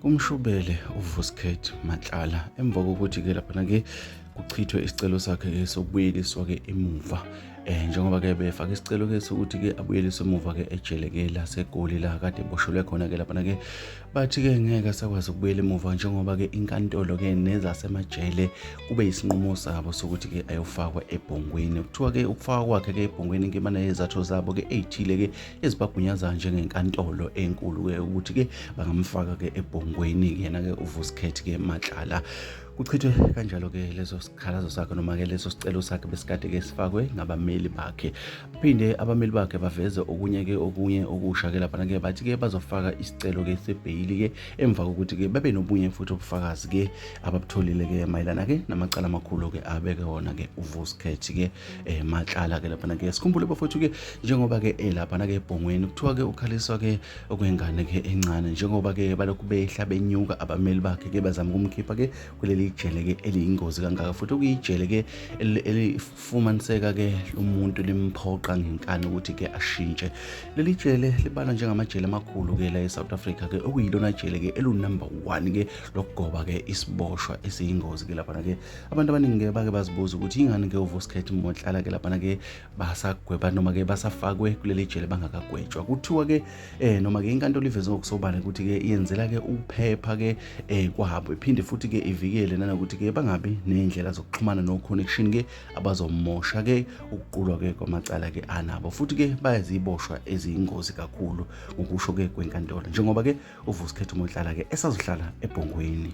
Umshubele uVuskhet Matlala emva kokuthi ke lapha ke kuchithwe isicelo sakhe ke sokubuyeliswa ke emuva eh njengoba ke befaka isicelo ke sokuthi ke abuyeliswe emuva ke ejele ke laseGoli la kade boshelwe khona ke lapha ke bathi ke ngeke sakwazi ukubuyela emuva njengoba ke inkantolo ke nezasemajele kube isinqumo sabo sokuthi ke ayofakwa ebhongweni kuthiwa ke ukufakwa kwakhe ke ebhongweni nkemana yezathu zabo ke eyithile ke ezibagunyaza njengenkantolo enkulu ke ukuthi ke bangamfaka ke ebhongweni yena ke uvusikhethi ke matlala kuchithwe kanjalo ke leso sikhalazo sakhe noma ke leso sicelo sakhe besikade ke sifakwe ngabameli bakhe phinde abameli bakhe baveze okunye ke okunye okusha ke lapha ke bathi ke bazofaka isicelo ke sebheyili ke emva kokuthi ke babe nobunye futhi ubufakazi ke ababutholile ke mayelana ke namacala amakhulu ke abeke wona ke uvusikhethi ke eh matlala ke lapha ke sikhumbule bafowethu ke njengoba ke elapha eh, na ke ebhongweni kuthiwa ke ukhaliswa ke okwengane ke encane njengoba ke balokhu behla benyuka abameli bakhe ke bazama ukumkhipha ke kuleli jele ke eliyingozi kangaka futhi ukuyijele ke elifumaniseka ke umuntu limphoqa ngenkani ukuthi ke ashintshe leli jele libalwa njengamajele amakhulu ke la eSouth Africa ke okuyilona jele ke elunumber 1 ke lokugoba ke isiboshwa esiyingozi ke lapha ke abantu abaningi ke bake bazibuza ukuthi yingani ke uvuskhet motlala ke laphana ke basagweba noma ke basafakwe kuleli jele bangakagwetshwa kuthiwa ke eh noma ke inkantolo iveze ngokusobala ukuthi ke iyenzela ke ukuphepha ke eh kwabo iphinde futhi ke ivikele nanokuthi ke bangabi nezindlela zokuxhumana no connection ke abazomosha ke ukuqulwa ke kwamacala ke anabo futhi ke bayaziboshwa eziyingozi kakhulu ngokusho ke kwenkantolo njengoba ke uvuskhet motlala ke esazohlala ebhongweni